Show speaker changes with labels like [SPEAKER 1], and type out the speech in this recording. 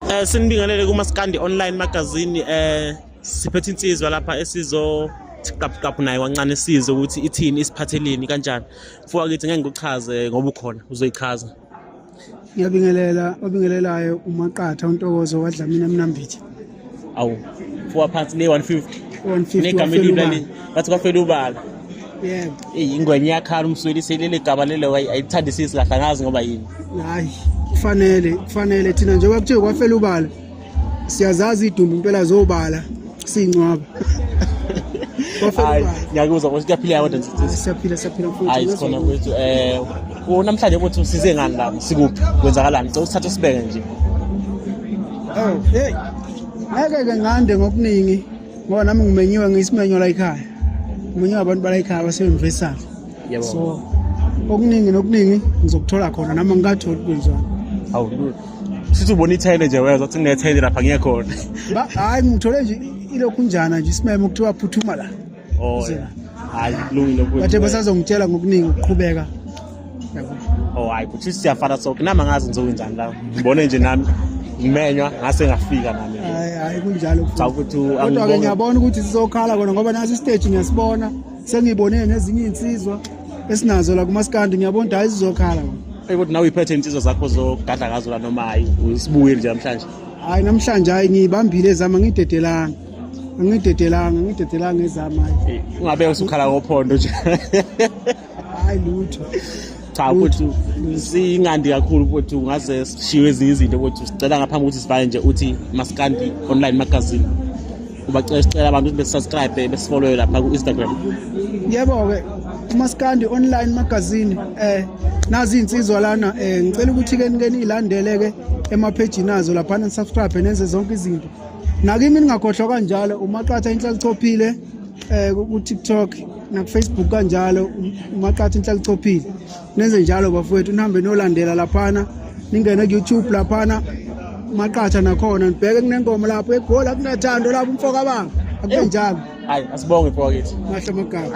[SPEAKER 1] Eh sinibingelele kuma Skandi online magazine eh siphethe insizwa lapha esizo siqaphuqaphu naye wancane size ukuthi ithini isiphatheleni kanjani mfoka kithi ngeke ngikuchaze ngoba ukhona uzoyichaza ngiyabingelela
[SPEAKER 2] obingelelayo umaqatha untokozo wadlamini emnambithi awu
[SPEAKER 1] mfoka phansi ne 150 150 negama
[SPEAKER 2] elibi lali
[SPEAKER 1] bathi kwafela ubala
[SPEAKER 2] yebo eyi ingwenya iyakhala
[SPEAKER 1] umswelise leli gama lelo ayithandisisi kahle angazi ngoba yini hayi
[SPEAKER 2] kufanele kufanele thina njengoba kuthiwe kwafela ubala siyazazi idumbu impela zobala siyincwaba
[SPEAKER 1] ngiyakuzwa ukuthi kuyaphileka kodwa siyaphila siyaphila hayi
[SPEAKER 2] sikhona kwethu
[SPEAKER 1] um namhlanje ukuthi usize ngani la sikuphi kwenzakalani cela usithathe sibeke nje oh,
[SPEAKER 2] ngeke ke ngande ngokuningi ngoba nami ngimenyiwe ngiyisimenywa la ekhaya ngimenyiwe abantu bala ekhaya basebemvesana so okuningi nokuningi ngizokuthola khona nami ngikatholi kwenziwani awu
[SPEAKER 1] sithi ubona ithayile nje weza uthi nethayile lapha ngeke khona hayi ngithole
[SPEAKER 2] nje ilokhu njana nje isimemo kuthiwa phuthuma la oh
[SPEAKER 1] hayi kulungile bathe basazongitshela
[SPEAKER 2] ngokuningi ukuqhubeka
[SPEAKER 1] oh hayi kuthi siyafana so kunami angazi ngizokwenzani la ngibone nje nami ngimenywa ngase ngafika nami hayi hayi kunjalo
[SPEAKER 2] cha ukuthi kodwa ke
[SPEAKER 1] ngiyabona ukuthi
[SPEAKER 2] sizokhala kona ngoba nasi stage ngiyasibona sengibone nezinye insizwa esinazo la kumaskandi ngiyabona ukuthi hayi sizokhala hey kodwa nawe iphethe
[SPEAKER 1] insizwa zakho zogadla ngazo la noma hayi usibuyile nje namhlanje hayi namhlanje
[SPEAKER 2] hayi ngiyibambile ezama ngidedelanga angidedelanga angidedelanga ezama hayi ungabe usukhala
[SPEAKER 1] ngophondo nje
[SPEAKER 2] hayi lutho cha ukuthi
[SPEAKER 1] singandi kakhulu ukuthi ungaze sishiwe ezinye izinto ukuthi sicela ngaphambi ukuthi sivale nje uthi maskandi online magazine ubacela sicela abantu ukuthi besubscribe besifollowe lapha ku-instagram yebo-ke
[SPEAKER 2] umaskandi online magazine eh nazi insizwa lana eh ngicela ukuthi ke nike nilandele ke emapage nazo lapha ni subscribe nenze zonke izinto nakimi ningakhohlwa kanjalo umaqatha inhlalichophile eh ku-tiktok nakufacebook kanjalo umaqatha inhlalichophile nenze njalo bafowethu nihambe niyolandela laphana ningene ku-youtube laphana maqatha nakhona nibheke kunenkomo lapho egoli akunathando lapho umfokabanga akube njalo hayi
[SPEAKER 1] asibonge
[SPEAKER 2] mfokakithi
[SPEAKER 1] mahle
[SPEAKER 2] magama